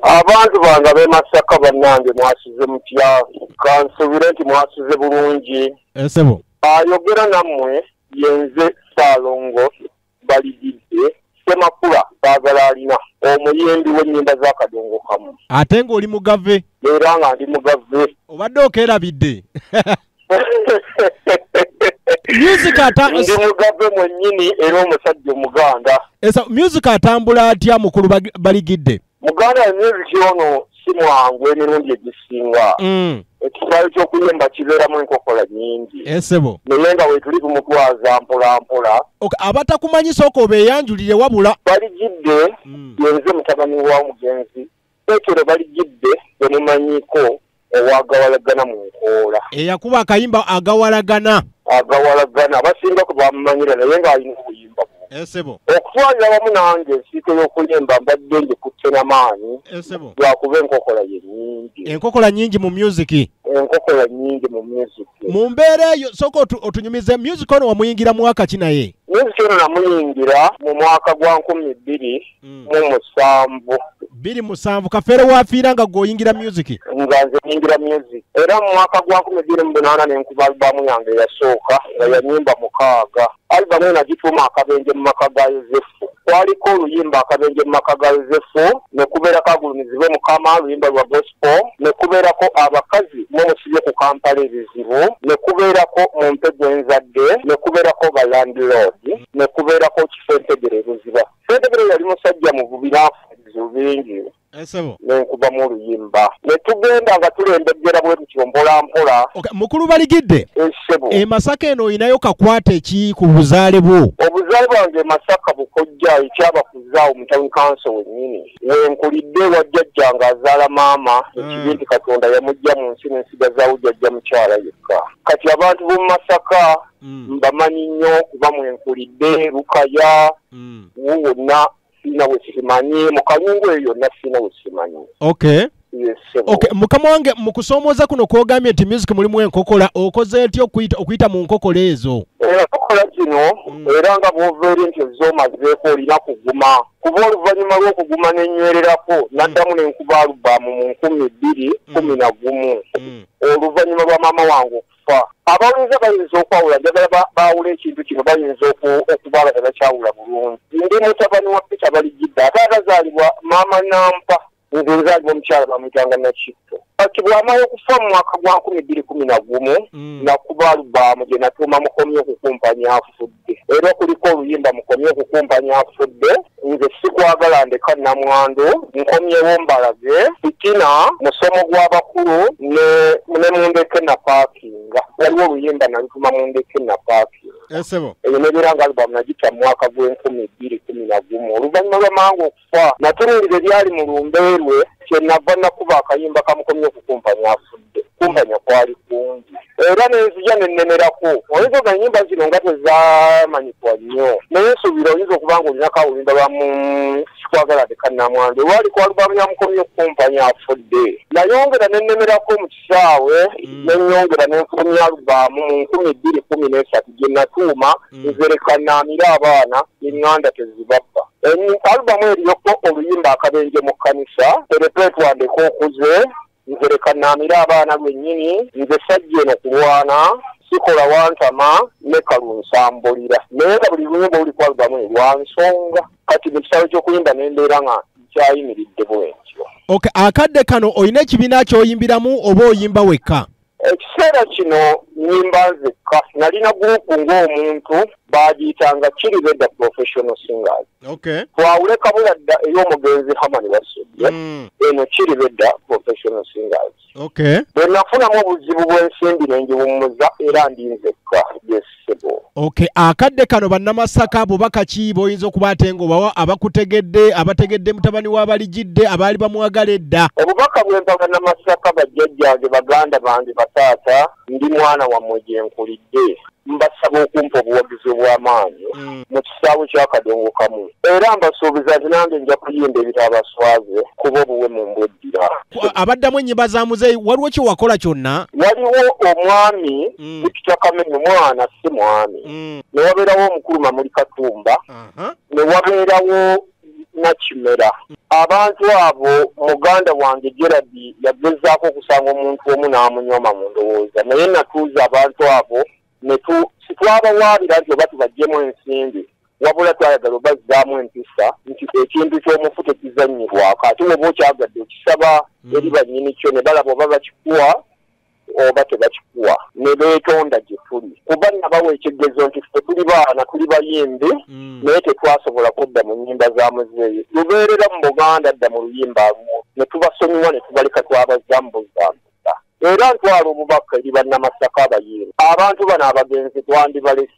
abantu bange abemasaka bannange mwasize mutya kansubire nti mwasize bulungi esebo eh, ayogera nammwe yenze saalongo balididde semakula baagala alina omuyimbi w'ennyimba z'akadongo kamu ate ng'oli mugave era nga ndi mugave obadde okeerabidde music ata ndi mugabe mwennyini era omusajja omuganda esa music atambula atya mukulu bag- baligidde muganda ya music ono si mwangu emirundi egisinga Mm. ekisaayo ky'okuyimba kibeeramu enkokola nyingi esebo naye nga wetuli kumutwaza mpola mpola Ok, abatakumanyi sooka obeeyanjulire wabula baligidde Mm. yenze mutabani wa mugenzi petero balijidde bemumanyiko owagawalagana mu nkoola eyakuba akayimba agawalagana agawalagana abasinga ku bamumanyira naye ng'alina obuyimba esebo eh, okutwalira wamu nange ensiiko y'okuyimba mbadde ngikutte na maanyi esebo eh, lwakuba enkokola ye nyingi enkokola nyingi mu musiki enkokola nyingi mu music mu mbeera eyo sooka otunyumize music ono wamuyingira mwaka ki naye music ono namuyingira mu mwaka gwa nkumi bbiri mm. mu musanvu biri musanvu kafeero wafiira nga gwe oyingira music nga nze nyingira music era mu mwaka gwa nkumi bbiri mu bunaana ne nkuba alibamu yange eyasooka nga yanyimba mukaaga alibamu ena gituuma akabenje mu maka ga yosefu kwaliko oluyimba akabenje mu maka ga yosefu ne kubeerako agulumizibwe mukama oluyimba lwa gospel ne kubeerako abakazi mwemusibye ku kampala ebizibu ne kubeerako mu mpegwenzadde ne kubeerako balandilord ne kubeerako kifo entegere ebuziba Fedebere yali musajja muvubi n'afulizo bingi ensebo eh, nenkubamu oluyimba netugenda nga tulembegera bwe tutyo mpola mpola mukulu baligidde ensebo eh, emasaka eh, eno olinayo kakwata eki ku buzaale bwo obuzaale bwange emasaka bukojja ekyabakuzaawo mutawuni kanso wennyini wenkulidde wa jjajja nga azaala maama hmm. ekibi nti katonda yamujja mu nsi nensigazawo jjajja mukyala yekka kati abantu b'omu masaka mm. mbamanyi nnyo kuba mwenkulidde lukaya mm. wonna sirina we simanyi mu kalungu eyo yonna sirina we simanyi okay okay mukama wange mu kusoomooza kuno kwogambye nti music mulimu enkokola okoze ntya okuyita mu nkokola ezo enkokola eh, zino mm. era nga bwoveere nti ezoomazeeko olina kuguma kuba oluvannyuma lw'okuguma nenywererako mm. naddamu nenkuba alubaamu mu nkumi bbiri mm. kumi na gumu oluvannyuma lwa maama wange okufa abawuliza bayinza okwawula njagala baawula ekintu kino bayinza okuba nga tebakyawula bulungi ndi mutabani wa peter balijidde ate agazaalibwa maama nampa nze nzaalibwa omukyala bamuyitanga nakitto kati bwamala okufa mu mwaka gwa nkumi bbiri kumi na gumu mm. nakuba alubaamu gye natuuma mukomye okukumpanya afudde era kuliko oluyimba mukomye okukumpanya afudde nze sikwagala ndeka namwandu nkomyewo mbalage fitina musomo gw'abakulu ne mundeke napaakinga waliwo oluyimba nalutuma mundeke napaakinga esebo eyo nebeera nga albamu nagita mu mwaka gw'enkumi bbiri kumi na gumu oluvannyuma lwamanga kufa natunuulira ebyali mu lumbe lwe kyenava nakuba akayimba kamukomye okukumpanya afudde kumpanya kwali kungi era nenzija nenemerako oyinza oga enyimba zino nga tezamanyikwa nnyo naye nsuubira oyinza okuba nga olinako awulimba lwa mu sikwagala tekanamwandu olwali kwalubamu yamukomye okukumpanya afudde nayongera nenemerako mu kisaawe mm. nenyongera nenfulumya alubaamu mu nkumi bbiri kumi nesatu gyenatuuma mm. nzerekanaamire abaana enganda tezibabba alubamu eriyoko oluyimba akabenje mu kkanisa erepeetwandeko okuze nzerekanaamire abaana lwennyini nze sajja eno kulwana sikola wantama ne kalunsambulira naye nga buli luyimba olulikwalbamu lwa nsonga kati mu kisaawe ky'okuyimba ne mbeera nga nkyayimiridde bwentyo okay akadde kano olina ekibiina kyoyimbiramu oba oyimba wekka ekiseera kino nyimba nzekka nalina gurupu ng'omuntu bagiyitanga kiri beda professional singers okay. twawule kabula dda ey'omugenzi hamani wasudde mm. eno kiri beda professional singers okay bwe nafunamu obuzibu bw'ensimbi ne ngiwummuza era ndi nzekka yesebo okay akadde kano bannamasaka bubaka ki b'oyinza okuba ate ng'obawa abakutegedde abategedde mutabani w'abaligidde abaali bamwagala edda obubaka bwempa bannamasaka bajjajjange baganda bange bataata ndi mwana wammwe gye nkulidde mbasaba okumpa obuwagizi obw'amaanyi mm. mu kisaawe ky'akadongo kamu era mbasuubiza nti nange nja kuyimba ebitaabaswaze kuba obuwe mu mbweddira abaddamu ennyimba za muzeeyi waliwo kye wakola kyonna waliwo omwami mm. bikita kamenya omwana si mwami mm. ne wabeerawo omukulu mamuli katumba ne wabeerawo nakimera abantu abo muganda wange gerard yagezaako okusanga omuntu omu n'amunywama mu ndowooza naye natuuza abantu abo sitwabawaabira nti oba tubajjemu ensimbi wabula twayagala obazzaamu empisa nti ekintu ky'omufu tekizannyirwako ate woba okyagadde okisaba hmm. eri bannyini kyo ne balaba oba bakikuwa oba tebakikuwa ne beetonda gye tuli kuba nabawa ekigezo nti ffe tuli baana tuli bayimbi mm. naye tetwasobola kudda mu nyimba za muzeeyi lubeerera mu buganda dda mu luyimba lumu ne tubasonyiwa ne tubaleka twabazambuzamu era ntwala obubaka eri bannamasaka abayimbi abantu bano abagenzi twandibalesi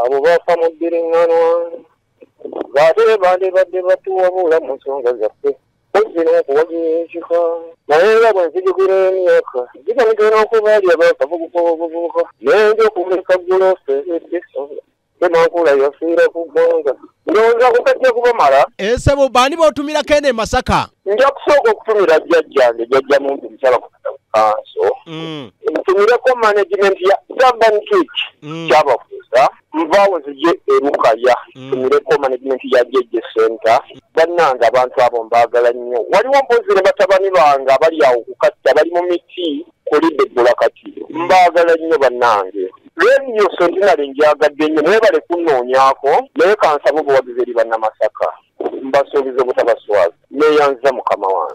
abo baafa mu bbiriŋŋanwa ng'ate bandibadde batuwabula mu nsonga zaffe kozzi n'okuwagira ekika naye nga bwe nzijugira emyaka gigamigera n'okuba ali abaafa buguka obuvubuka naye nja okumuleka gguloosa eddisa tenankula yafiira ku ggwanga ndowooza kukajja kubamala esebo eh, baani botumirako eno emasaka nja kusooka okutumira jjajjange jjajja muntu musala kugenda ku kanso mm. ntumireko management ya urban kic mm. kyabafuuza nvaawo zije erukaya mm. ntumireko management ya jeje center bannange abantu abo mbaagala nnyo waliwo mpozi ne batabani bange abali awo kukatta bali mu miti kulidde bbula kati mbaagala nnyo bannange leediyo sentinali njagadde nnyo mwebale kunnoonyako naye kansaba obuwagizi eri bannamasaka mbasuubiza obutabaswaza neeyanziza mukama wange